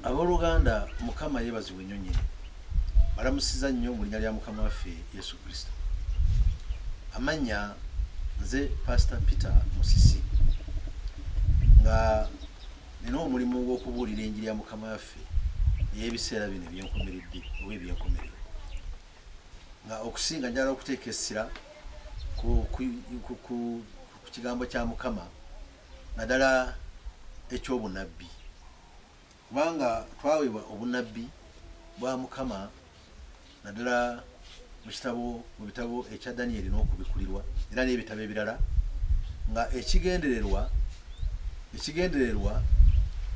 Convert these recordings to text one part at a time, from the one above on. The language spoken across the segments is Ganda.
Abooluganda, Mukama yeebazibwe nnyo nnyini. Balamusiza nnyo mu linnya lya Mukama waffe Yesu Kristo. Amannya nze Pasita Peter Musisi nga nina omulimu gw'okubuulira enjiri ya Mukama waffe ey'ebiseera bino ebyenkomeredde oba ebyenkomerero nga okusinga njala okuteeka essira ku kigambo kya Mukama naddala eky'obunabbi, kubanga twaweebwa obunabbi bwa Mukama naddala mu kitabo mu bitabo ekya Danyeri n'okubikkulirwa era n'ebitabo ebirala nga ekigendererwa ekigendererwa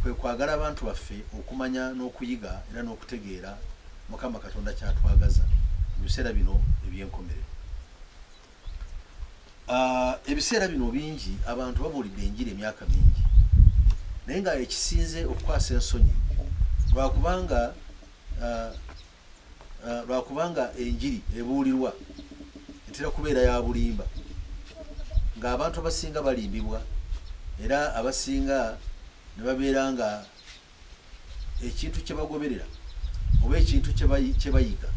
kwe kwagala abantu baffe okumanya n'okuyiga era n'okutegeera Mukama Katonda kyatwagaza mu biseera bino eby'enkomerero. Ah, ebiseera bino bingi abantu babuulidde enjiri emyaka mingi naye nga ekisinze okukwasa ensonyi lwakubanga ah, ah, lwakubanga enjiri ebuulirwa etera kubeera ya bulimba ng'abantu abasinga balimbibwa era abasinga ne babeera nga ekintu kye bagoberera oba ekintu kye bayiga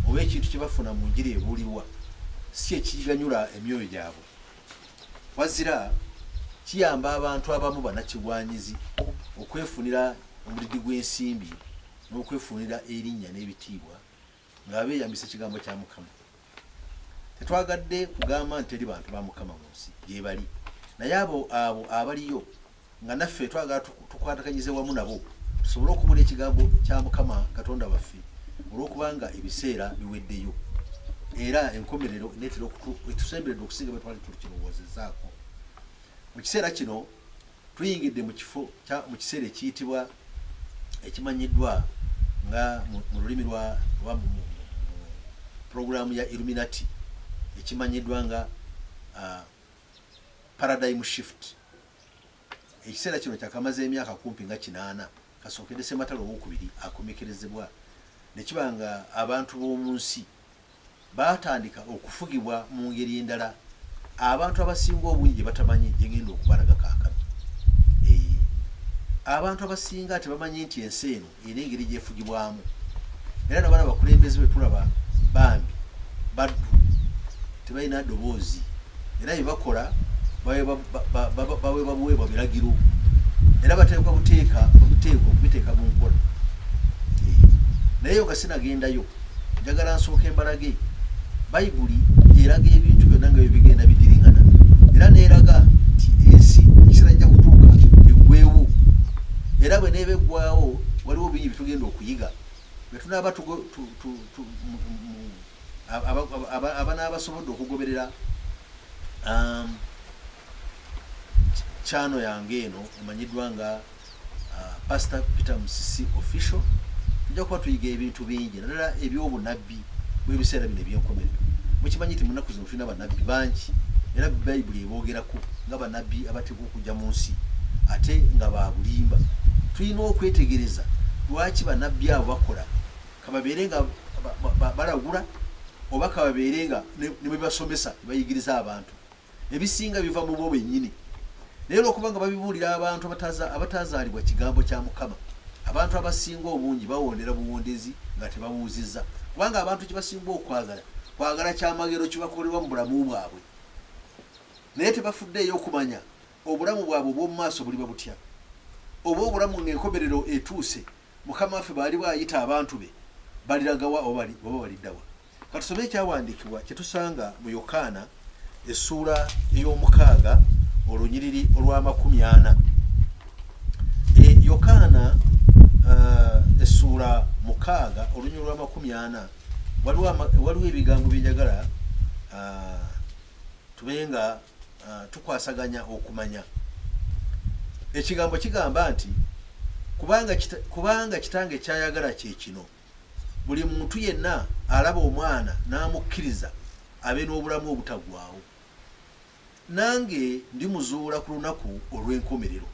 oba ekintu kye bafuna mu njiri ebuulirwa si ekiganyula emyoyo gyabwe wazira kiyamba abantu abamu banakigwanyizi okwefunira omudidi gw'ensimbi n'okwefunira erinnya n'ebitiibwa nga beeyambisa ekigambo kya Mukama. Tetwagadde kugamba nti teri bantu ba Mukama mu nsi gyebali, naye abo abo abaliyo nga naffe twagala tukwatakanyize wamu nabo tusobole okubula ekigambo kya Mukama Katonda waffe olw'okubanga ebiseera biweddeyo era enkomerero neetera etusemberedde okusinga bwe twali tukirowoozezzaako mu kiseera kino. Tuyingidde mu kifo kya mu kiseera ekiyitibwa ekimanyiddwa nga mu mu lulimi lwa lwa mu mu- mu pulogulaamu ya Illuminati ekimanyiddwa nga ah, paradigm shift. Ekiseera kino kyakamaze emyaka kumpi nga kinaana kasookedde Ssematalo Owookubiri akomekerezebwa ne kiba nga abantu b'omu nsi baatandika okufugibwa mu ngeri endala abantu abasinga obungi gye batamanyi gye ngenda okubalaga kaakano. Eee, abantu abasinga tebamanyi nti ensi eno era engeri gyefugibwamu era nabana abakulembeze be tulaba bambi baddu tebalina ddoboozi era bye bakola baweebwa buweebwa biragiro era bateekwa buteeka obuteeka okubiteeka mu nkola naye yo nga sinagendayo njagala nsooka embalage bayibuli eraga ebintu byonna nga byo bigenda bidiringana era neeraga nti ensi ekisera jja kutuuka eggwewo era bwe neeba eggwawo waliwo bingi byetugenda okuyiga bwetunaaba abanaba basobodde okugoberera um, kyano yange eno emanyiddwa nga uh, pastor peter musisi official tujja kuba tuyiga ebintu bingi nadala ebyobunabbi bwebiseera bino ebyenkomerero mukimanyi nti munaku zino tulina banabbi bangi era bayibuli eboogerako nga banabbi abateekwa okujja mu nsi ate nga babulimba tulina okwetegereza lwaki banabbi abo bakola kababeere nga balagula oba kababeere nga nebwebasomesa bayigiriza abantu ebisinga biva mu bo benyini naye olwokuba nga babibuulira abantu abatazaalibwa kigambo kya mukama abantu abasinga obungi bawondera buwondezi nga tebabuuzizza kubanga abantu kyebasinga okwagala kwagala kyamagero kibakolerwa mu bulamu bwabwe naye tebafudde eyo okumanya obulamu bwabwe obwomumaaso buliba butya oba obulamu ngaenkomerero etuuse Mukama waffe bw'aliba ayita abantu be, baliraga wa oba balidda wa? Ka tusome ekyawandiikibwa kye tusanga mu Yokaana essuula ey'omukaaga olunyiriri olw'amakumi ana. E, Yokaana uh, essuula mukaaga olunyiriri olw'amakumi ana waliwo ebigambo bye njagala uh, tube nga uh, tukwasaganya okumanya ekigambo kigamba nti kubanga kita, kubanga kitange kyayagala kyekino buli muntu yenna alaba omwana n'amukkiriza abe n'obulamu obutagwawo nange ndi muzuula ku lunaku olw'enkomerero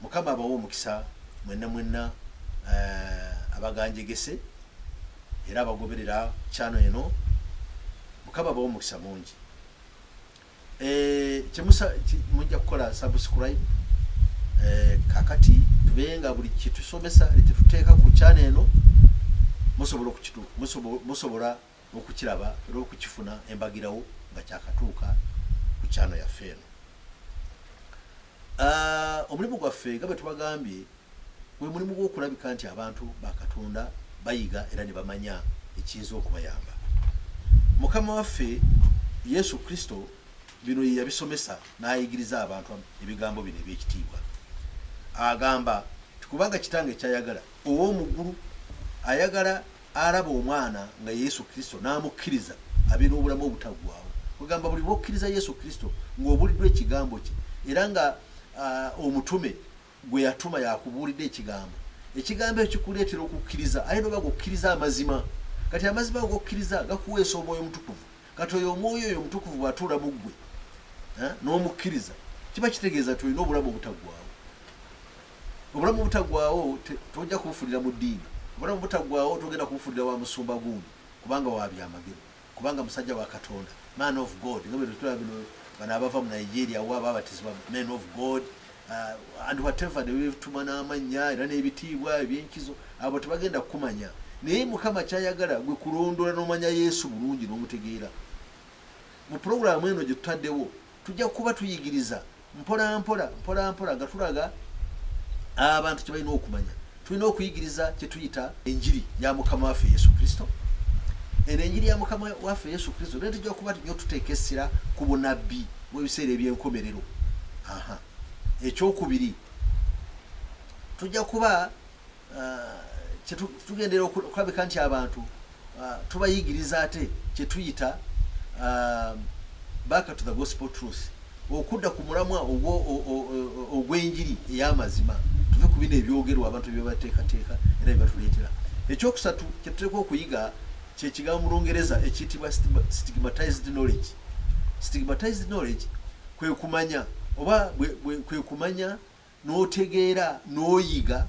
mukama abawa omukisa mwenna mwenna uh, abaganjegese era abagoberera kyano eno mukama abawa omukisa mungi eh, kyemusa mujja kukola subscribe eh, kakati tubenga buli kyetusomesa kyetuteeka ku channel eno musobola okukitu musobola okukiraba era okukifuna embagirawo nga kyakatuuka ku channel yaffe eno Uh, omulimu gwaffe nga bwe tubagambye gwe mulimu gw'okulabika nti abantu ba katonda bayiga era ne bamanya ekiyinza okubayamba mukama waffe yesu kristo bino ye yabisomesa n'ayigiriza abantu ebigambo bino eby'ekitiibwa agamba nti kubanga kitange kyayagala ow'omuggulu ayagala alaba omwana nga Yesu Kristo n'amukkiriza abe n'obulamu obutaggwaawo. Kwegamba buli lw'okkiriza Yesu Kristo ng'obuuliddwa ekigambo kye era nga uh, omutume gwe yatuma yakubuulidde ekigambo ekigambo ekyo kikuleetera okukkiriza aye noba g'okkiriza amazima kati amazima ago g'okkiriza gakuweesa omwoyo omutukuvu kati oyo omwoyo oyo omutukuvu bw'atuula mu ggwe eh, n'omukkiriza kiba kitegeeza nti olina obulamu obutaggwaawo obulamu obutagwawo tojja kubufulira mu ddiini obulamu butagwawo togenda kubufulira wa musumba gundi kubanga wabyamagero kubanga musajja wa katonda man of god nga bwetutula bino bano abava mu nigeria wa babatizibwa man of god uh, and whatever nebetuma n'amannya era n'ebitiibwa ebyenkizo abo tebagenda kukumanya naye mukama kyayagala gwe kulondola n'omanya yesu bulungi n'omutegeera mu pulogulaamu eno gye tutaddewo Tujja kuba tuyigiriza mpolampola mpolampola nga tulaga abantu kye balina okumanya. Tulina okuyigiriza kye tuyita enjiri ya mukama waffe Yesu Kristo. Eno enjiri ya mukama waffe Yesu Kristo naye tujja kuba nyo tuteeka essira ku bunabbi bw'ebiseera eby'enkomerero. Aha, ekyokubiri tujja kuba kyetugendera okulabika nti abantu tubayigiriza ate kyetuyita back to the gospel truth okudda ku mulamwa ogw'enjiri ey'amazima tuve ku bino ebyogerwa abantu byebateekateeka era byebatuleetera ekyokusatu kyetuteeka okuyiga kyekigambo mu lungereza ekiyitibwa stigmatized knowledge stigmatized knowledge kwekumanya oba kwekumanya n'otegeera n'oyiga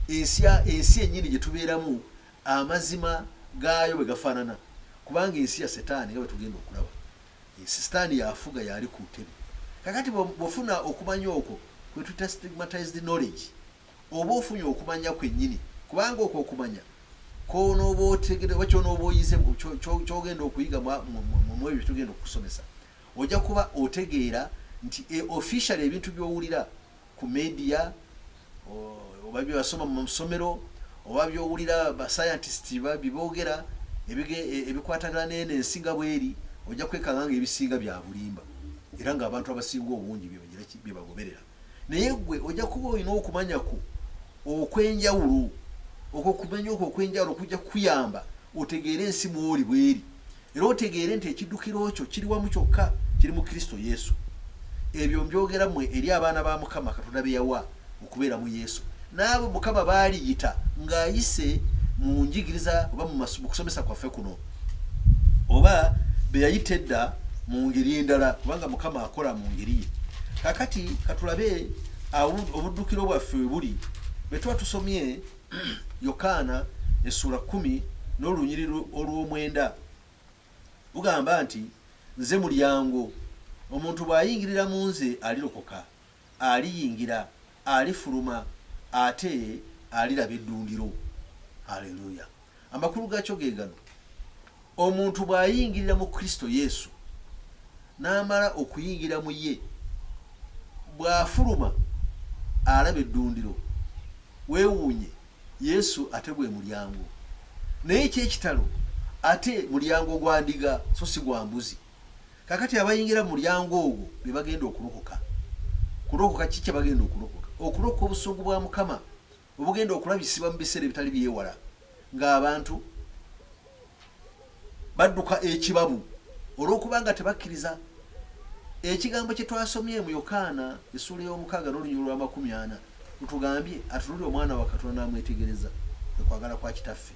ensi ensi ennyini gye tubeeramu amazima gaayo bwe gafaanana kubanga ensi ya setaani nga bwe tugenda okulaba ensi sitaani yafuga yaali ku ntebe kakati bwofuna okumanya okwo kwe tuyita stigmatized knowledge oba ofunye okumanya kwennyini kubanga okwo okumanya kwonoba otegere oba kyonoba oyize kyogenda okuyiga mwebyo tugenda okukusomesa Ojja kuba otegeera nti e officially ebintu byowulira ku media oba byewasoma mu somero oba byowulira ba scientist byebogera e, ebikwatagana neno ensi nga bweri ojja kwekanga nga ebisinga byabulimba era nga abantu abasinga obungi byebagoberera naye gwe ojja kuba olina okumanya kwo okwenjawulo okwo kumanya okwo okwenjawulo kujja kukuyamba otegeere ensi mwoli bweri era otegeere nti ekiddukiro kyo kiri wamu kyokka kiri mu kristo yesu ebyo mbyogera mwe eri abaana ba mukama katonda be yawa okubeera mu yesu n'abo mukama baaliyita ng'ayise mu njigiriza oba mu kusomesa kwaffe kuno oba be yayita edda mu ngeri endala kubanga mukama akola mu ngeri ye kakati katulabe obuddukiro bwaffe we buli bwe tuba tusomye yokaana essuula kumi n'olunyiri olw'omwenda lugamba nti nze mulyango omuntu bw'ayingirira mu nze alirokoka aliyingira, alifuluma, ate aliraba eddundiro. Aleluya! Amakulu gaakyo ge gano, omuntu bw'ayingirira mu Kristo Yesu n'amala okuyingira mu ye, bw'afuluma alaba eddundiro. Weewuunye, Yesu ate gwe mulyango. Naye eky'ekitalo, ate mulyango gwa ndiga so si gwa mbuzi. Kakati abayingira mulyango ogwo bebagenda okulokoka. Kulokoka ki kyebagenda okulokoka? Okulokoka obusungu bwa Mukama obugenda okulabisibwa mu biseera ebitali byewala ng'abantu badduka ekibabu olw'okubanga tebakkiriza ekigambo kye twasomye mu Yokaana essuula ey'omukaaga n'olunyiriri lw'amakumi ana Mutugambye atunulire omwana wa Katonda n'amwetegereza kwe kwagala kwa Kitaffe,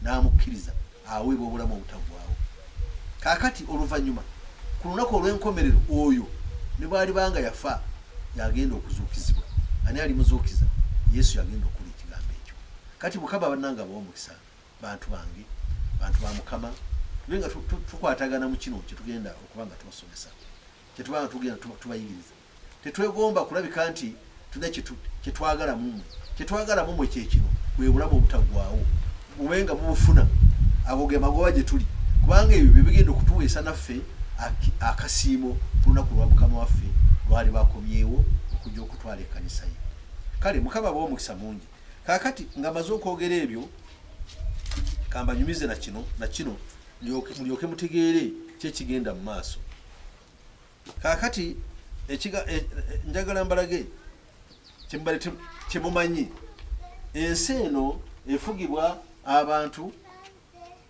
n'amukkiriza, aweebwa obulamu obutaggwaawo. Kaakati, oluvannyuma, ku lunaku olw'enkomerero, oyo, ne bw'aliba nga yafa, y'agenda okuzuukizibwa. Ani alimuzuukiza? Yesu y'agenda okukola ekigambo ekyo. Kati Mukama, bannange, abawe omukisa, bantu bange, bantu ba Mukama, tube nga tukwatagana mu kino kye tugenda okuba nga tubasomesa, kye tuba nga tugenda tubayigiriza. Tetwegomba kulabika nti tulina kye twagala mu mmwe. Kye twagala mu mmwe kye kino, bwe Bulamu Obutaggwaawo, mube nga mubufuna. Ago ge magoba gye tuli, kubanga ebyo bye bigenda okutuweesa naffe akasiimo ku lunaku lwa Mukama waffe lw'aliba akomyewo okujja okutwala ekkanisa ye. Kale Mukama abawe omukisa mungi. Kaakati nga maze okwogera ebyo, kambanyumize na kino, na kino, mulyoke mutegeere ki ekigenda mu maaso. kaakati eh, njagala mbalage kyemumanyi ensi eno efugibwa abantu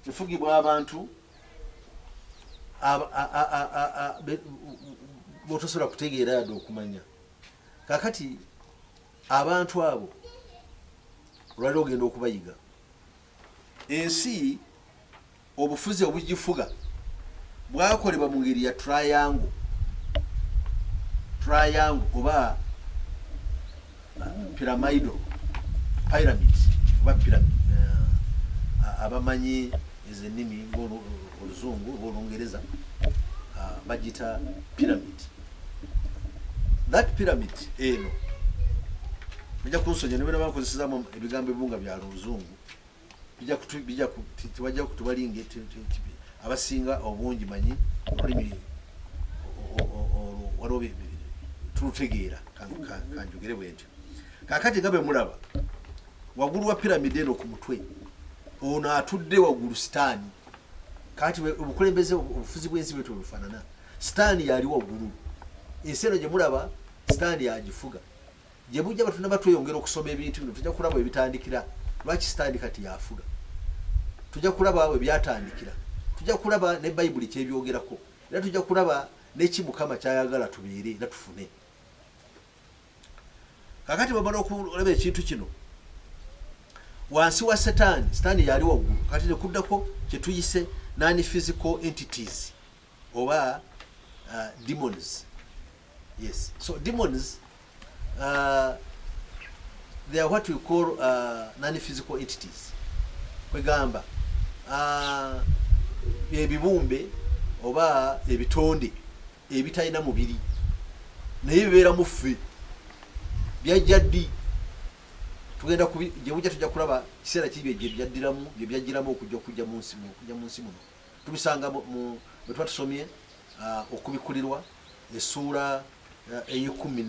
efugibwa abantu botosobola kutegeera yadde okumanya kakati abantu abo olwali ogenda okubayiga ensi Obufuzi obugifuga bwakolebwa mu ngeri ya triangle, triangle oba pyramidal pyramid oba pyramid abamanyi ezo ennimi ng'oluzungu oba olungereza ah, bagita pyramid that pyramid eno ojja kunsonyiwa ne bwe nabakozesezaamu ebigambo ebimu nga bya luzungu tewajja kutubalinga abasinga obungi manyi olulimi waliwo tulutegeera kanjogere bwentyo kakati nga bwe mulaba wagulu wa piramidi eno ku mutwe ono atudde wagulu sitaani kati obukulembeze obufuzi bwensi bwetyo bufanana sitaani yali wagulu ensi eno gyemulaba sitaani yagifuga gye bujja bwe tunaba tweyongera okusoma ebintu bino tujja kulaba ebitandikira lwaki sitaani kati yafuga tujja kulaba we byatandikira tujja kulaba ne bayibuli kyebyogerako era tujja kulaba neki mukama kyayagala tubeere era tufune kakati bamala okulaba ekintu kino wansi wa setaani setaani yali waggulu kati nekuddako kyetuyise nani physical entities oba uh, demons yes so demons uh, they are what we call uh, non physical entities kwegamba uh, ebibumbe oba ebitonde ebitalina mubiri naye bibeera muffe byajja ddi tugenda gyebujja tujja kulaba kiseera kiri byebyaddiramu byebyajjiramu okujja okujja mu nsi muno tubisanga bwe tuba tusomye uh, okubikulirwa essuula uh, ey'ekkumi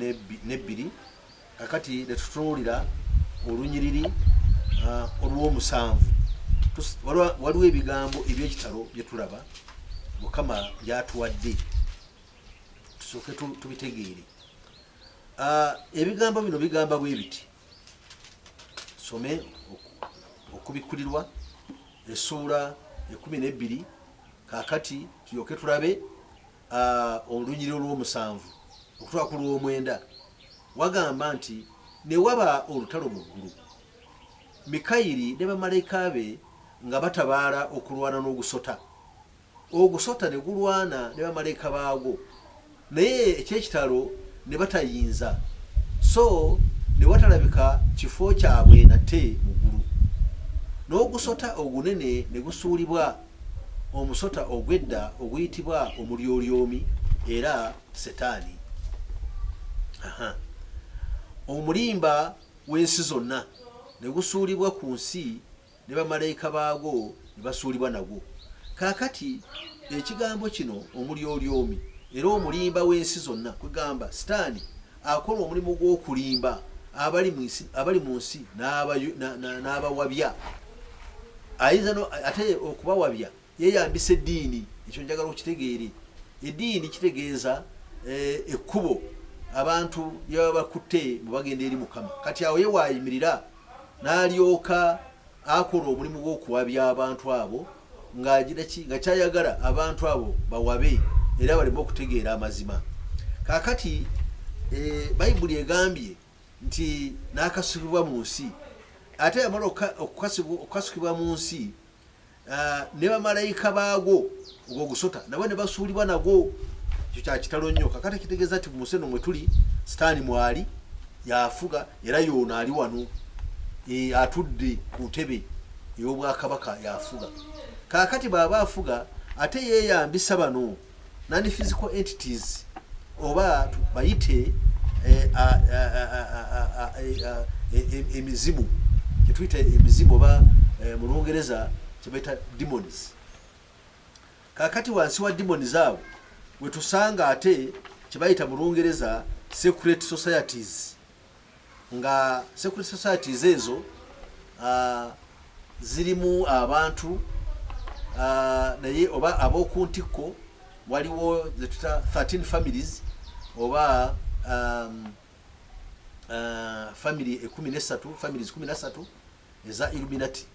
n'ebbiri kakati netutunuulira olunyiriri uh, olw'omusanvu waliwo ebigambo ebyekitalo bye tulaba mukama byatuwadde tusooke tubitegeere ebigambo bino bigamba bwe biti some okubikkulirwa essuula ekumi n'ebbiri kakati tulyoke tulabe olunyiri olw'omusanvu okutwala ku lw'omwenda wagamba nti ne waba olutalo mu ggulu mikayiri ne bamalayika be nga batabaala okulwana n'ogusota Ogusota ne gulwana ne bamalaika baagwo, naye eky'ekitalo ne batayinza, so ne watalabika kifo kyabwe nate mu ggulu. N'ogusota ogunene ne gusuulibwa, omusota ogw'edda oguyitibwa Omulyolyomi era Setaani, aha, omulimba w'ensi zonna, ne gusuulibwa ku nsi. ne bamalayika baago ne basuulibwa nagwo. Kaakati, Ekigambo kino, Omulyolyomi era omulimba w'ensi zonna, kwegamba, Sitaani, akola omulimu gw'okulimba abali mu nsi, abali mu nsi n'abawabya. Ayinza no, ate okubawabya Yeeyambisa eddiini, ekyo njagala okitegeere. Eddiini kitegeeza eh, ekkubo abantu lye baba bakutte mu bagenda eri Mukama. Kati awo ye waayimirira n'alyoka akola omulimu gw'okuwabya abantu abo ng'agira ki nga kyayagala abantu abo bawabe era baleme okutegeera amazima. Kaakati eh, Bayibuli egambye nti n'akasukibwa mu nsi ate yamala okukasukibwa mu nsi Ah, ne bamalayika baagwo ogwo gusota nabo ne basuulibwa nagwo ekyo kyakitalo nnyo kakati kitegeeza nti muse no mwe tuli sitaani mwali yafuga era yoono ali wano e, atudde ku ntebe ey'obwakabaka yafuga kakati bw'aba afuga ate yeeyambisa bano nani physical entities oba bayite emizimu kyetuyita emizimu oba eh, mu lungereza kyebayita demons kakati wansi wa demons abo wetusanga ate kyebayita mu lungereza secret societies nga secret societies ezo uh, zirimu abantu uh, naye oba abokuntikko waliwo zetuta 13 families oba um, uh, family ekumi nesatu families kumi nasatu eza illuminati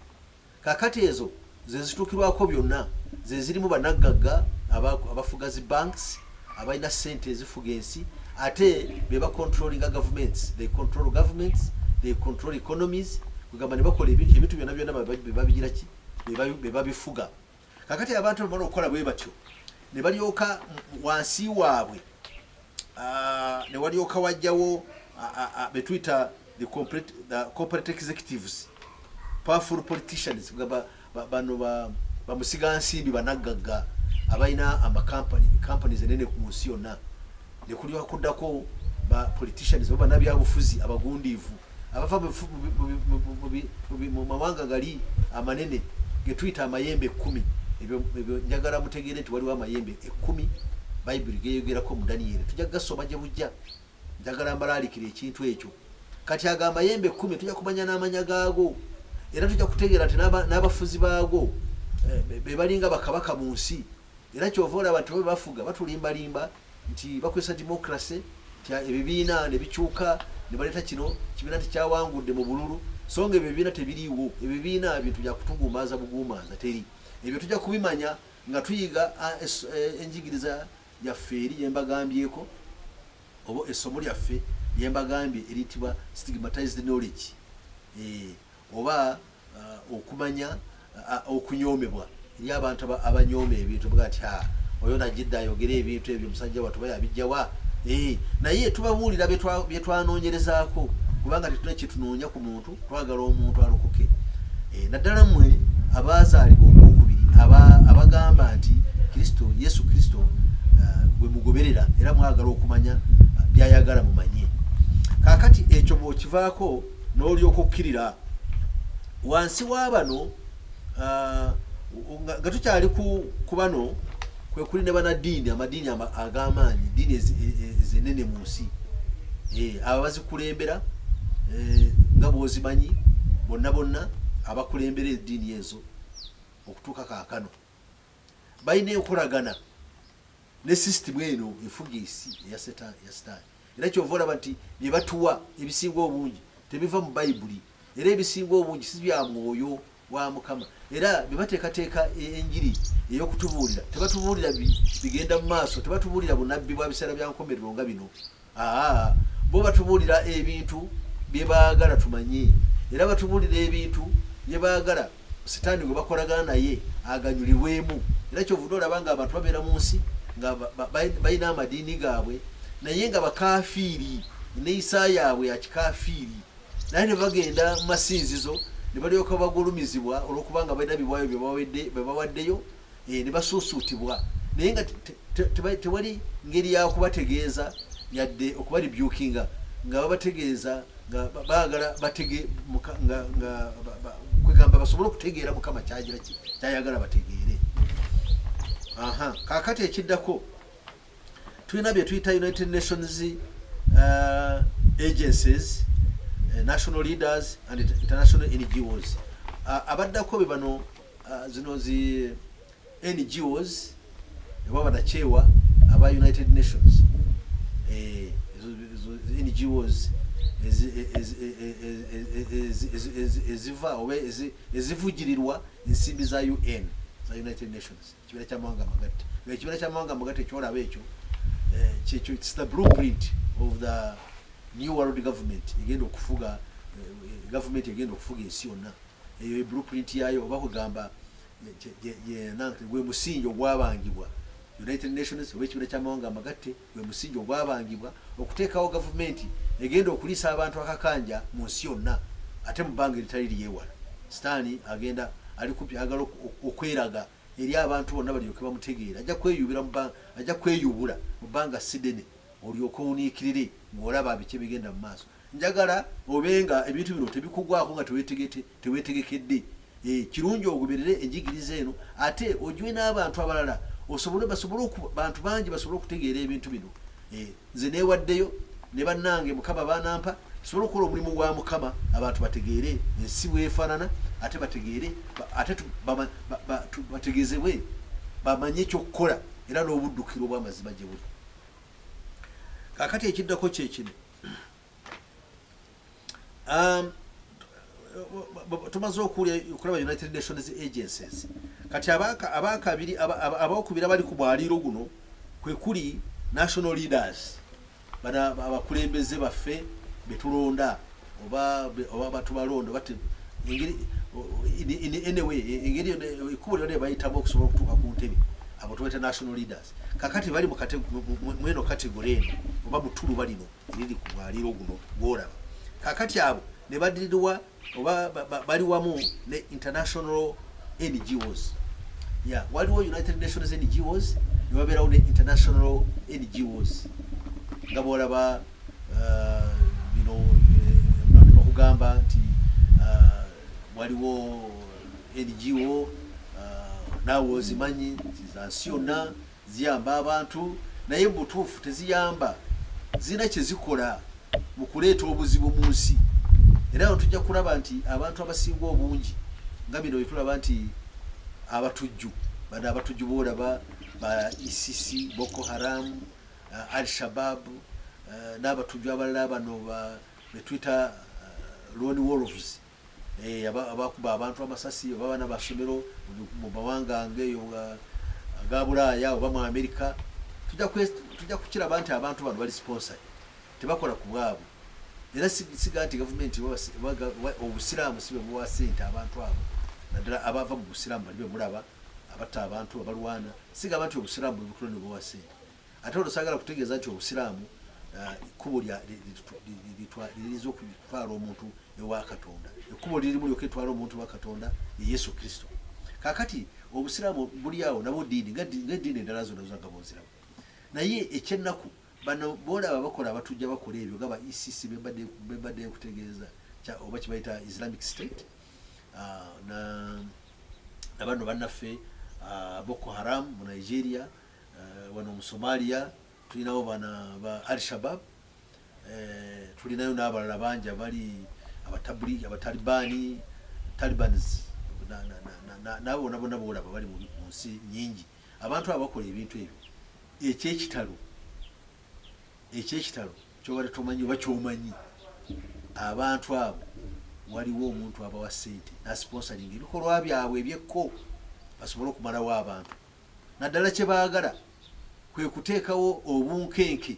Kaakati ezo ze zituukirwako byonna, ze zirimu banaggagga aba, abafuga zi banks, abalina ssente ezifuga ensi, ate be ba controllinga gavumenti. They control governments, they control economies, kwegamba ne bakola ebintu byonna byonna be babigira ki, be babifuga. kakati abantu bamala okukola bwe batyo ne balyoka wansi waabwe ne walyoka wajjawo betuyita the corporate executives powerful politicians gamba bano bamusiga nsimbi banaggagga abalina amakampani kampani zenene ku nsi yonna ne kulyoka kuddako ba politicians oba banabyabufuzi abagundiivu abava mu mawanga gali amanene getuyita amayembe ekkumi ebyo njagala mutegeere nti waliwo amayembe ekkumi bayibuli geyogerako mu daniyeri tujja kugasoma gye bujja njagala mbalaalikira ekintu ekyo kati ago amayembe ekkumi tujja kumanya n'amanya gaago era tujja kutegeera nti n'abafuzi baago eh, be balinga bakabaka mu nsi Era kyova olaba nti bebafuga batulimba limba nti bakozesa democracy nti ebibiina nebikyuka nebaleta kino kibiina nti kyawangudde mu bululu songa ebyo ebibiina tebiriiwo ebibiina bintu byakutuguumaaza buguumaaza teri ebyo tujja kubimanya nga tuyiga enjigiriza yaffe eri yembagambyeko oba essomo lyaffe lyembagambye eriyitibwa stigmatized knowledge e, oba uh, okumanya uh, okunyoomebwa eri abantu abanyooma ebintu buga nti ah, oyo najidde ayogere ebintu ebyo omusajja watuba yabijjawa eh, naye tubabuulira byetwanoonyerezaako kubanga tetuna kyetunoonya ku muntu twagala omuntu alokoke eh, naddala mwe abazaalibwa ogwokubiri abagamba nti kristo yesu kristo eh, gwe mugoberera era mwagala okumanya byayagala mumanye kakati ekyo bwokivaako n'olyoka okkirira wansi wa bano uh, nga tukyali ku bano kwe kuli ne banaddiini amadiini ag'amaanyi diini ezenene mu nsi eh, abo bazikulembera eh, nga bwozimanyi bonna bonna abakulembera eddiini ezo okutuuka kaakano balina enkolagana ne system eno efuga esi eya setani ya sitani era kyova olaba nti byebatuwa ebisinga obungi tebiva mu bayibuli era ebisinga obungi si bya mwoyo wa mukama era bebateekateeka e- enjiri ey'okutubuulira tebatubuulira bigenda mu maaso tebatubuulira bunabbi bwa biseera bya nkomerero nga bino Aa, bo batubuulira ebintu bye baagala tumanye, era batubuulira ebintu bye baagala Sitaani gwe bakolagana naye aganyulirwemu. Era ky'ovudde olaba ng'abantu babeera mu nsi nga balina amadiini gaabwe naye nga bakafiiri, enneeyisa yaabwe ya kikafiiri, naye ne bagenda mu masinzizo ne balyoka bagulumizibwa olw'okubanga balina biwaayo bye bawaddeyo eh, ne basuusuutibwa naye nga tewali ngeri ya kubategeeza yadde okubalibyukinga nga babategeeza nga baagala batege kwegamba basobole okutegeera mukama kyagira kyayagala bategeere aha kakati ekiddako tulina bye tuyita united nations uh, agencies uh, national leaders and international ngos uh, abaddako be bano uh, zino zi ngos eba banakyewa aba united nations eh, ngos eziva oba ezivugirirwa ensimbi za un za united nations ekibiina kyamawanga amagatte ekibiina kyamawanga amagatte kyolaba ekyo eh, kyekyo its the blueprint of the new world government egenda okufuga eh, gavumenti egenda okufuga ensi yonna eyo e blueprint yayo oba kugamba gwe musingi ogwabangibwa united nations oba ekibiina kyamawanga amagatte gwe musingi ogwabangibwa okuteekawo gavumenti egenda okuliisa abantu akakanja mu nsi yonna ate mu bbanga eritali lyewala. Sitaani agenda ali kumpi ayagala okweraga eri abantu bonna balyoke bamutegeere. Ajja kweyubira mu bbanga, ajja kweyubula mu bbanga ssi dene olyoke owuniikirire ng'olaba biki ebigenda mu maaso. Njagala obe nga ebintu bino tebikugwako nga tewetegete. tewetegekedde eh, kirungi ogoberere enjigiriza eno ate ogiwe n'abantu abalala osobole basobole bantu bangi basobole okutegeera ebintu bino eh, nze neewaddeyo ne bannange mukama baanampa tusobole okukola omulimu gwa mukama abantu bategeere ensi bwefaanana ate bategeere ate bategezebwe bamanye ekyokukola era n'obuddukiro obwamazima gye buli kakati ekiddako kyekino Um, tumaze okulaba united nations agencies kati abakabiri abokubiri abali ku mwaliiro guno kwekuli national leaders bana abakulembeze baffe betulonda oba batubalonda bat anyway engeri ekubo lyona ebayitamu okusobola okutuuka ku ntebe abo tubaita national leaders kakati bali mweno kategore eno oba mutuluba lino liri ku mwaliiro guno gwolaba kakati abo ne badirirwa oba bali wamu ne international ngos ya waliwo united nations ngos ne babeerawo ne international ngos nga bwolaba uh, bino eh, bakugamba nti uh, waliwo ngo uh, naawe ozimanyi nti zansi yonna Ziyamba abantu naye mubutuufu teziyamba, zirina kyezikola mukuleeta obuzibu munsi era awo tujja kulaba nti abantu abasinga obungi nga bino wetulaba nti abatujju bano abatujju boolaba ba ECC, Boko Haram, uh, Al Shabab uh, n'abatujju abalala bano betuyita uh, lone wolves eh, abakuba abantu amasasi oba abaana basomero mu mawanga ngeeyo aga bulaaya oba mu amerika tujja kukiraba nti abantu bano bali sponsor tebakola ku bwabwe era siga nti gavumenti obusiraamu si bebuwa sente abantu abo naddala abava mu busiraamu bali bemulaba abatta abantu abalwana sigamba nti obusiraamu bwebutula nebuwa sente Ate olwo saagala kutegeeza nti Obusiraamu kkubo liriza okutwala omuntu ewa Katonda. Ekkubo lirimu lyokka eritwala omuntu ewa Katonda ye Yesu Kristo. Kaakati Obusiraamu buli awo nabwo ddiini ng'eddiini endala zonna zonna nga bunziramu. Naye ekyennaku bano boolaba bakola abatujja bakola ebyo nga ba ICC e be mbadde nkutegeeza oba kye bayita Islamic State ah, na bano bannaffe ah, Boko Haram mu Nigeria Eh, wano mu Somalia tulinawo bana ba Al Shabab, eh, tulinayo n'abalala bangi abali abatabuli abatalibani Talibans nabo bona bona boolaba bali mu nsi nyingi abantu abo bakola ebintu ebyo ekyekitalo ekyekitalo kyobadde tomanyi oba kyomanyi abantu abo waliwo omuntu abawa sente nasiponsalinga ebikolwa byabwe ebyekko basobole okumalawo abantu naddala kye baagala kwe kuteekawo obunkenke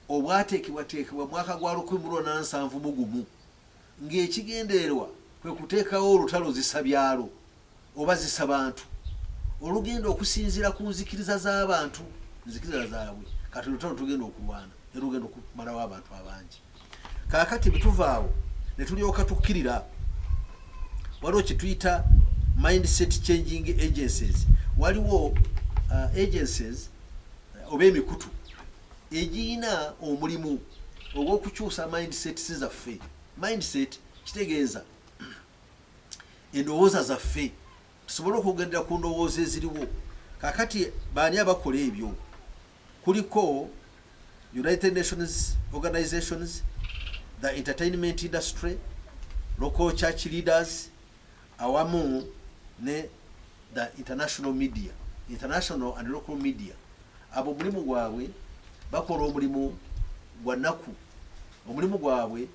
obwateekebwateekebwa mu mwaka gwa lukumi mu lwona nsanvu mu gumu ng'ekigendererwa kwe kuteekawo olutalo zisa byalo oba zisa bantu olugenda okusinziira ku nzikiriza z'abantu nzikiriza zaabwe kati olutalo tugenda okulwana era lugenda okumalawo abantu abangi kaakati bwetuva awo ne tulyoka tukkirira waliwo kyetuyita mindset changing agencies waliwo uh, agencies uh, oba emikutu egiyina omulimu ogw'okukyusa mindsets zaffe mindset kitegeeza endowooza zaffe tusobole okugendera ku ndowooza eziriwo kakati baani abakola ebyo kuliko United Nations Organisations, the Entertainment Industry, Local Church Leaders awamu ne the international media, international and local media. Abo omulimu gwabwe bakola omulimu gwa naku, omulimu gwabwe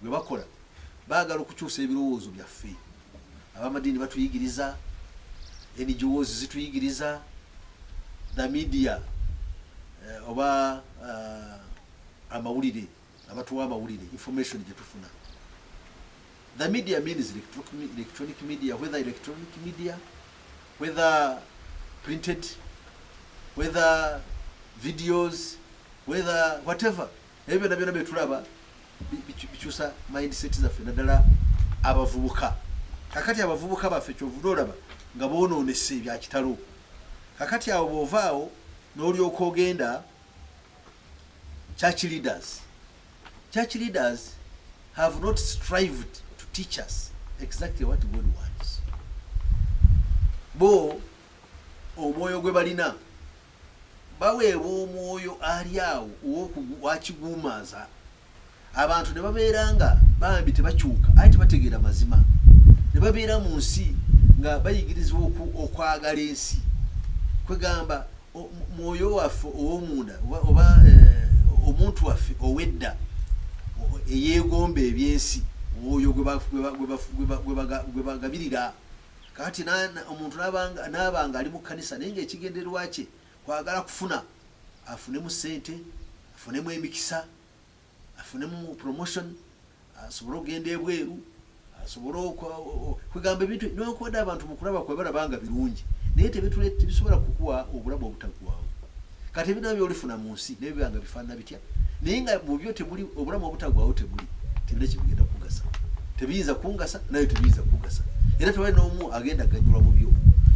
gwe bakola baagala okukyusa ebirowoozo byaffe abamadiini batuyigiriza ngos zituyigiriza the media eh, oba uh, amawulire abatuwa amawulire information gyetufuna the media means electronic media whether electronic media whether printed whether videos whether whatever ebyo byonna byonna byetulaba bikyusa mindset zaffe naddala abavubuka kakati abavubuka baffe kyovuda olaba nga bononese ebyakitalo kakati awo bwovaawo nolyoka ogenda church leaders church leaders have not strived to teach us exactly what god wants bo omwoyo gwe balina Baweebwa omwoyo ali awo ow'okugwakiguumaaza abantu ne babeera nga bambi tebakyuka aye tebategeera mazima ne babeera mu nsi nga bayigirizibwa okwagala ensi kwegamba mwoyo waffe ow'omunda oba eh, omuntu waffe ow'edda eyeegomba ebyensi oyo gwe bagabirira Kaakati omuntu n'aba ng'ali mu kkanisa naye ng'ekigendererwa kye kwagala kufuna, afunemu ssente, afunemu emikisa, afunemu promotion, asobole okugenda ebweru, asobole kwegamba ebintu newankubadde abantu mu kulaba kwe balaba nga birungi naye tebisobola kukuwa obulamu obutaggwawo. Kati ebintu byona byolifuna mu nsi naye biba nga bifaanana bitya? naye nga mubyo temuli obulamu obutagwawo temuli tebina kyebigenda kugasa tebiyinza kungasa naye tebiyinza kugasa era tewali n'omu agenda ganyulwa mubyo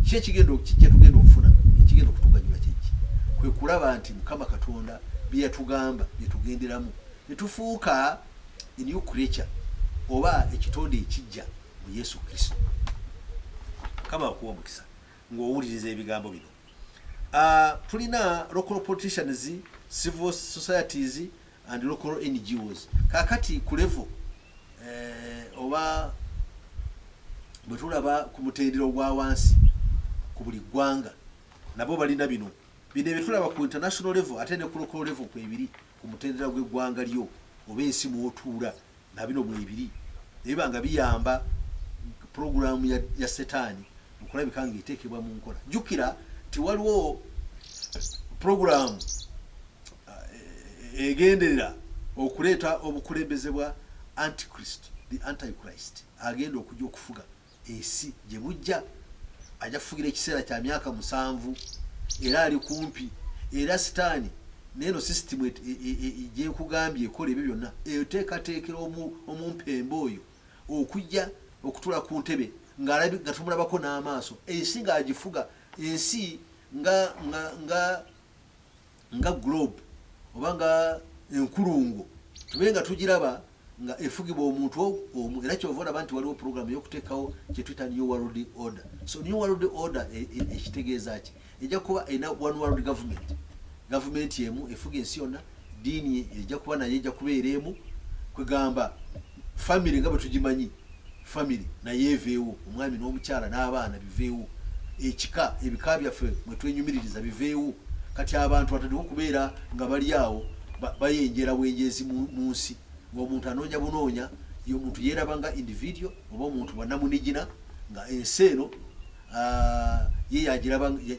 ki ekigenda kyetugenda okufuna ekigenda okutuganyula kyeki kwe kulaba nti mukama katonda byeyatugamba byetugenderamu netufuuka enew creature oba ekitonde ekijja mu yesu kristo mukama akuwa omukisa ng'owuliriza ebigambo bino Uh, tulina local politicians, civil societies and local NGOs. Kakati ku level eh, oba bwe tulaba ku mutendera ogwa wansi ku buli ggwanga nabo balina bino bino ebitulaba ku international level ate ne ku local level kwebiri ku mutendera gw'eggwanga lyo oba ensi mw'otuula, na bino mwebiri, ne biba nga biyamba pulogulaamu ya, ya setaani okulabika ng'eteekebwa mu nkola. Jjukira nti waliwo pulogulaamu eh, egenderera okuleeta obukulembeze bwa antichrist the antichrist agenda okujja okufuga Ensi gye bujja, ajja kufugira ekiseera kya myaka musanvu era ali kumpi. Era Sitaani n'eno sisitimu e, e, e, gye nkugambye ekola ebyo byonna, eteekateekera omu, omumpembe oyo okujja okutula ku ntebe ng'alabi nga tumulabako n'amaaso, ensi ng'agifuga, ensi nga nga nga nga globe oba nga enkulungo tube nga tugiraba nga efugibwa omuntu omu era kyova olaba nti waliwo program eyokutekawo kyetuyita new world order so new world order e, e, ekitegeeza ki ejja kuba erina one world government gavumenti emu efuga ensi yonna diini ejja kuba naye ejja kubeera emu kwegamba Family nga bwetugimanyi family nayo eveewo, omwami n'omukyala n'abaana biveewo, ekika, ebika byaffe mwetwenyumiririza biveewo, kati abantu batandike okubeera nga bali awo bayenjeera bwenjeezi munsi ng'omuntu anoonya bunoonya, omuntu yeeraba nga individual oba omuntu banamunigina nga ensi eno ah, ye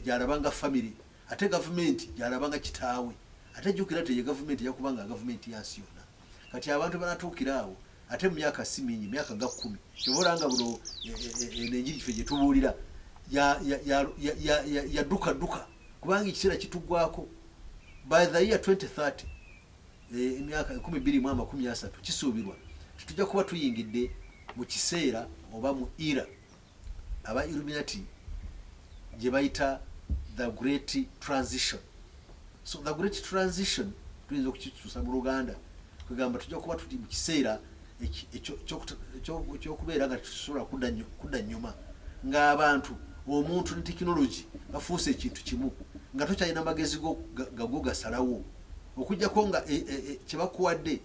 gyalaba nga family ate gavumenti gyalaba nga kitaawe ate jukira teye gavumenti yakubanga gavumenti yansi yonna. kati abantu banatuukira awo ate mu myaka si mingi myaka nga kkumi kyova olanga buno e, e, e, eno enjiri ffe gye tubuulira yadduka dduka kubanga ekiseera kitugwako by the year 2030 emyaka ekumi bbiri mu amakumi asatu kisuubirwa tetujja kuba tuyingidde mu kiseera oba mu era aba illuminati gye bayita the great transition so the great transition tuyinza okukituusa mu luganda kwegamba tujja kuba tuli mu kiseera ekyokubeera nga tusobola kudda nyuma ng'abantu omuntu ne tekinologi bafuuse ekintu kimu nga tokyalina magezi gago gasalawo okujjako nga e, e, e, kyebakuwadde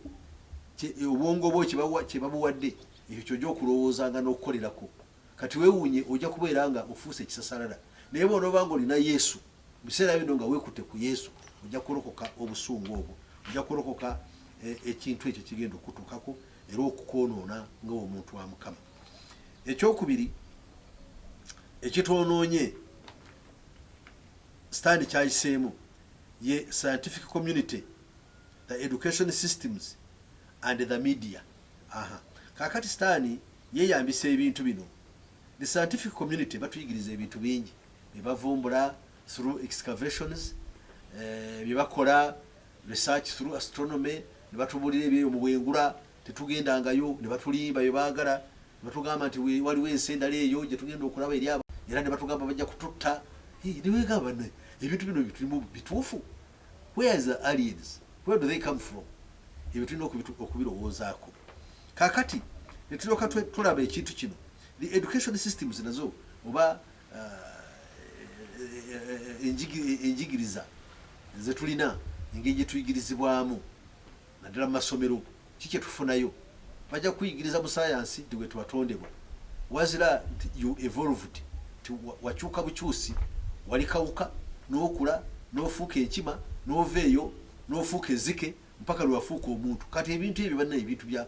obwongo bwo kyebabuwadde Ekyo ky'ojja okulowoozanga n'okukolerako. Kati weewuunye, ojja kubeera nga ofuuse ekisasalala. Naye bw'onooba nga olina Yesu, mu biseera bino nga weekutte ku Yesu, ojja kulokoka obusungu obwo. Ojja kulokoka e, ekintu ekyo ekigenda okukutuukako era okukwonoona nga omuntu wa Mukama. Ekyokubiri ekitwonoonye sitaani kyayiseemu ye scientific community the education systems and the media Aha. Kakati sitaani yeyambisa ebintu bino. The scientific community batuyigiriza ebintu bingi byebavumbula through excavations, eh, byebakola research through astronomy, nebatubulira ebyeyo mu bwengula tetugendangayo nebatulimba byebaagala nebatugamba nti waliwo ensi endala eyo gyetugenda okulaba eri aba era nebatugamba bajja kututta niwegamba ebintu bino bitulimu bituufu Where is the aliens? Where do they come from? Ebyo tulina okubirowoozaako kakati netulyoka tulaba ekintu kino the education systems nazo oba enjigiriza zetulina engeri gyetuyigirizibwamu Naddala mu masomero ki kye tufunayo? Bajja kukuyigiriza mu sayansi nti wetwatondebwa wazira nti you evolved nti wakyuka bukyusi, wali kawuka n'okula n'ofuuka enkima n'ova eyo n'ofuuka ezzike mpaka lwe wafuuka omuntu. Kati ebintu ebyo bannange bintu bya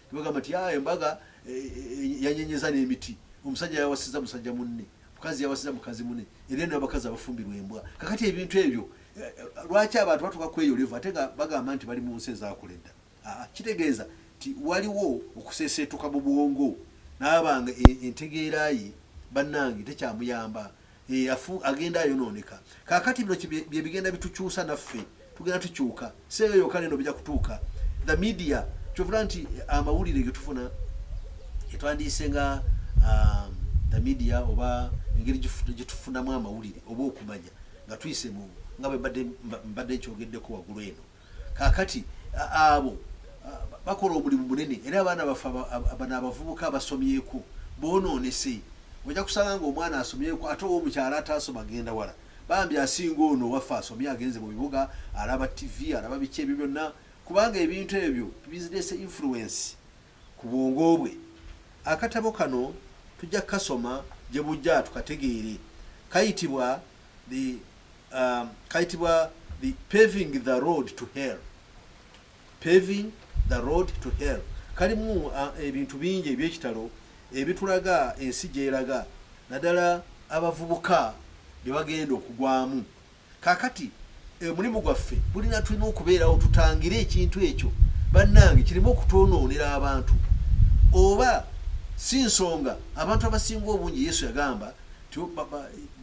Tebagamba nti ah, embaga e, e, e, yanyenyeza n'emiti, omusajja yawasiza musajja munne, mukazi yawasiza mukazi munne, era eno abakazi abafumbirwa embwa. Kakati ebintu ebyo eh, lwaki abantu batuka kweyo levu ate nga bagamba nti bali mu nsi ezaakula edda? Ah, kitegeeza nti waliwo okuseeseetuka mu bwongo n'abanga entegeera ye bannange tekyamuyamba. eyafu eh, agenda ayonooneka kakati bino bye bigenda bitukyusa naffe tugenda tukyuka seeyo yoka neno bija kutuuka the media kyovula nti eh, amawulire getufuna etwandiise nga um, the media oba engeri gyetufunamu amawulire oba okumanya nga tuyise mu nga bwebadde nkyogeddeko waggulu eno Kaakati abo bakola omulimu munene, era abaana baffe bano abavubuka basomyeko boonoonese. Ojja kusanga ng'omwana asomyeko ate owo mukyala ataasoma agenda wala. Bambi asinga ono owaffe asomye agenze mu bibuga, alaba ttivi, alaba biki ebyo byonna, kubanga ebintu ebyo bizireese influence ku bwongo bwe. Akatabo kano tujja kukasoma gye bujja tukategeere. Kayitibwa the um, kaitibwa the paving the road to hell paving the road to hell kalimu uh, ebintu bingi ebyekitalo ebitulaga ensi gyeraga naddala abavubuka bye bagenda okugwamu kakati omulimu eh, gwaffe bulina tulina okubeerawo tutangire ekintu ekyo bannange kirimu okutwonoonera abantu oba si nsonga abantu abasinga obungi yesu yagamba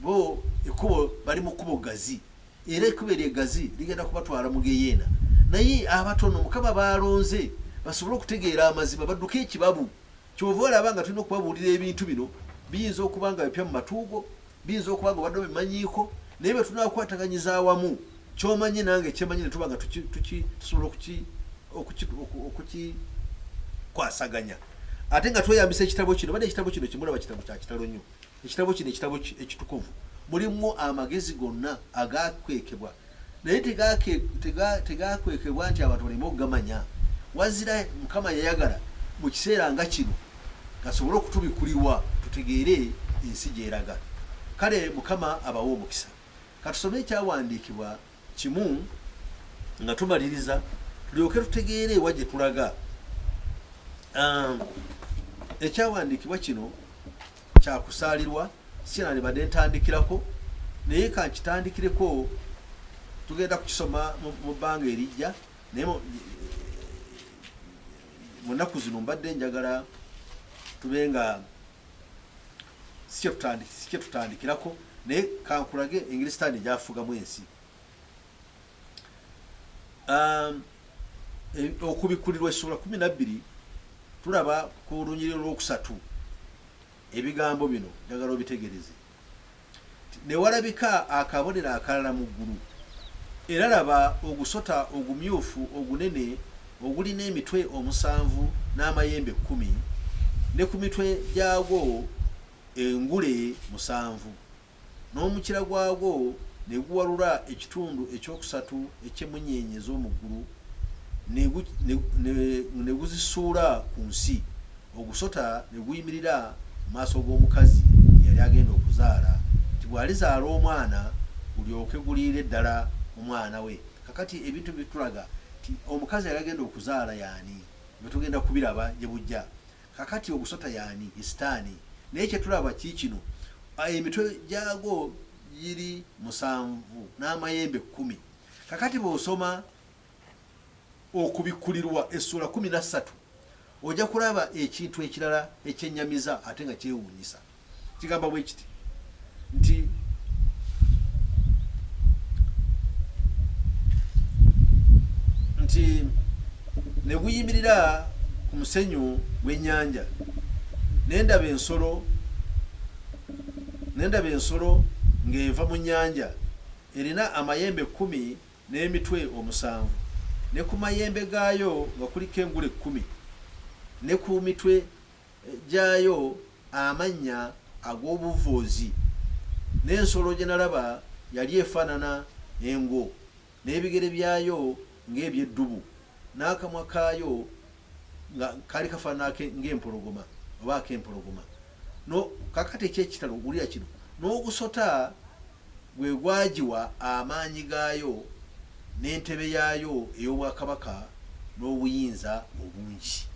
bo ekkubo bali mu kkubo gazi era ekkubo eryo egazi ligenda kubatwala mu geyeena naye abatono mukama baalonze basobole okutegeera amazima badduke ekibabu kyova olaba nga tulina okubabuulira ebintu bino biyinza okuba nga bipya mu matuugo biyinza okuba nga obadde obimanyiiko naye bwe tunakwataganyiza awamu kyomanyi nange kyemanyi netuba nga tusobola okukikwasaganya ate nga tweyambisa ekitabo kino bade ekitabo kino kimulaba kitabo kyakitalo nnyo ekitabo kino ekitabo ekitukuvu mulimu amagezi gonna agakwekebwa naye tegakwekebwa nti abantu baleme okugamanya wazira mukama yayagala mu kiseera nga kino gasobole okutubikulirwa tutegeere ensi gyeraga kale mukama abawe omukisa Katusome ekyawandiikibwa kimu nga tumaliriza tulyoke tutegeere ewa gye tulaga. Um, ekyawandiikibwa kino kyakusaalirwa sina ne badde ntandikirako naye kankitandikireko tugenda kukisoma mu bbanga erijja naye mu nnaku zino mbadde njagala tube nga sikyetutandikirako naye kankulage engeri sitaani gyafugamu ensi um, okubikulirwa essobola kumi nabbiri tulaba ku lunyiriro lwokusatu ebigambo bino njagala obitegereze Ne walabika akabonero akalala mu ggulu, era laba ogusota ogumyufu ogunene ogulina emitwe omusanvu n'amayembe kkumi, ne ku mitwe gyagwo engule musanvu, n'omukira gwagwo ne guwalula ekitundu ekyokusatu eky'emmunyeenye ez'omu ggulu ne guzisuula ku nsi. Ogusota ne guyimirira mu maaso g'omukazi eyali agenda okuzaala, nti bw'alizaala omwana gulyoke guliire ddala omwana we. Kaakati ebintu bino bitulaga nti omukazi eyali agenda okuzaala y'ani? Ebyo tugenda kubiraba gye bujja. Kaakati ogusota y'ani? Ye Sitaani. Naye kye tulaba kiikino, Emitwe gyagwo giri musanvu n'amayembe kkumi. Kaakati bw'osoma Okubikkulirwa essuula kkumi na ssatu, ojja kulaba ekintu ekirala ekyennyamiza ate nga kyewuunyisa. Kigamba bwe kiti nti, nti ne guyimirira ku musenyu gw'ennyanja ne ndaba ensolo ne ndaba ensolo ng'eva mu nnyanja erina amayembe kkumi n'emitwe omusanvu, ne ku mayembe gaayo nga kuliko engule kkumi, ne ku mitwe gyayo amannya ag'obuvvuuzi, n'ensolo gye nalaba yali efaanana engo, n'ebigere byayo ng'eby'eddubu. N'akamwa kaayo nga kaali kafaanana ng'empologoma, oba ak'empologoma. No, kaakati eky'ekitalo, wulira kino, n'ogusota gwe gwagiwa amaanyi gaayo, n'entebe yaayo ey'obwakabaka, n'obuyinza obungi.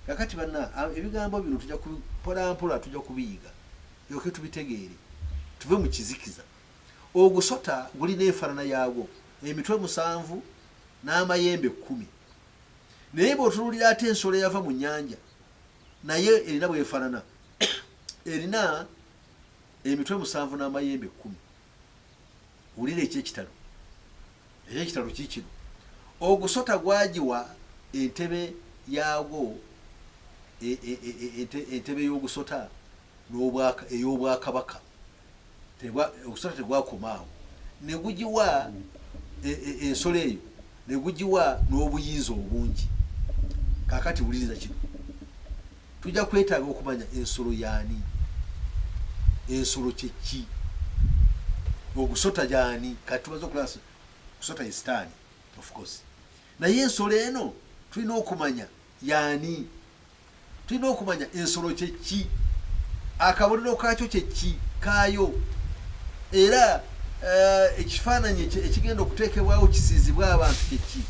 Kaakati, banna, ebigambo bino tujja, mpolampola tujja kubiyiga, tulyoke tubitegeere, tuve mu kizikiza. Ogusota gulina enfaanana yaagwo, emitwe musanvu n'amayembe kkumi. Naye bw'otunuulira ate ensolo eyava mu nnyanja, nayo erina bw'efaanana. Erina emitwe musanvu n'amayembe kkumi. Wulira eky'ekitalo! Eky'ekitalo kiikino, ogusota gwagiwa entebe yaagwo, e, e, e, entebe y'ogusota ey'obwakabaka. Okusota tegwakoma awo, ne gugiwa e, e, ensolo eyo, ne gugiwa n'obuyinza obungi. Kaakati wuliriza kino, tujja kwetaaga okumanya ensolo yaani, ensolo kyeki, ogusota yaani. Kati tumaze okulaba kusota ye sitaani, of course, naye ensolo eno tulina okumanya yaani. Tulina okumanya ensolo kye ki, akabonero kaakyo kye ki, kaayo, era uh, ekifaananyi ekigenda okuteekebwawo kisiizibwe abantu kye ki.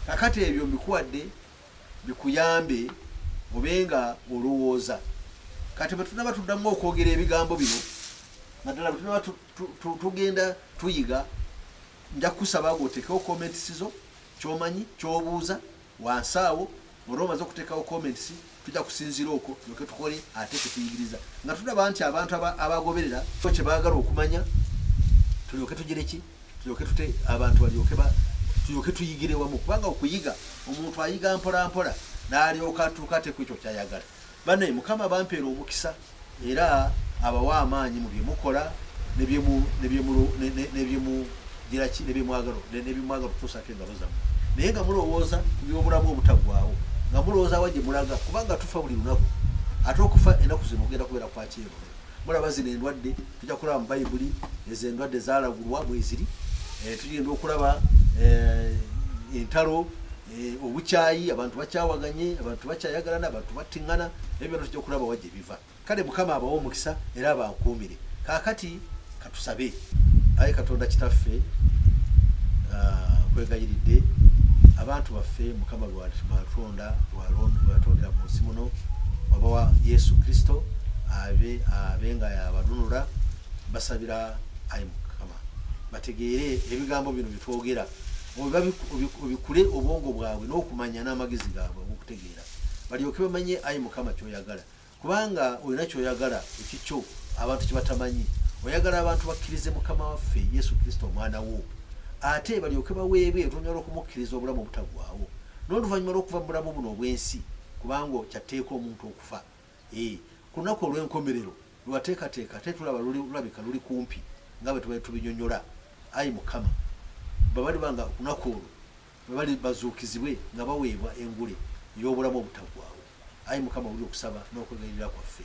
Kakati ebyo mbikuwadde bikuyambe obe nga olowooza. Kati bwe tunaba tuddamu okwogera ebigambo bino, naddala bwe tunaba tugenda tuyiga, nja kusaba gwotekewo komentisizo, kyomanyi, kyobuuza, Wansi awo olwo omaze okutekawo comments tujja kusinzira okwo tulyoke tukole ate kyetuyigiriza nga tulaba nti abantu abagoberera so kyebagala okumanya tulyoke tugire ki tulyoke tute abantu balyoke tulyoke tuyigire wamu kubanga okuyiga omuntu ayiga mpolampola nalyoka atuuka ate ku ekyo kyayagala Banaye mukama abampeere omukisa era abawe amaanyi mu byemukola nebyemwagala okutuusako engalo zammwe naye nga mulowooza ku byobulamu obutagwawo nga mulowooza wa gyemulaga kubanga tufa buli lunaku ate okufa enaku zino ogenda kubeera kwakyeru mulaba zino endwadde tujja kulaba mu bayibuli ezo endwadde zalagulwa mweziri eh, tugenda okulaba eh, entalo eh, obukyayi abantu bakyawaganye abantu bakyayagalana abantu battingana ebyo byona tujja okulaba wajja ebiva kale mukama abawa omukisa era abankuumire kakati katusabe aye katonda kitaffe ah, kwegayiridde abantu baffe mukama lwatonda lwatondera mu nsi muno wabawa yesu kristo abe abe nga yabanunula basabira ayi mukama bategeere ebigambo bino byetwogera obikule obwongo bwabwe n'okumanya n'amagezi gaabwe okutegeera balyoke bamanye ayi mukama kyoyagala kubanga olina kyoyagala ekikyo abantu kyebatamanyi oyagala abantu bakkirize mukama waffe yesu kristo omwana wo ate balyoke baweebwe oluvannyuma lw'okumukkiriza obulamu obutagwawo n'oluvannyuma lw'okuva mu bulamu buno obw'ensi kubanga kyatteeka omuntu okufa Eeh ku lunaku olw'enkomerero lwe wateekateeka ate tulaba luli, lulabika luli kumpi nga bwe tubadde tubinyonyola. Ayi Mukama, babaliba nga ku lunaku olwo bwe bali bazuukizibwe nga baweebwa engule ey'obulamu obutaggwaawo. Ayi Mukama, wulira okusaba n'okwegayirira kwaffe.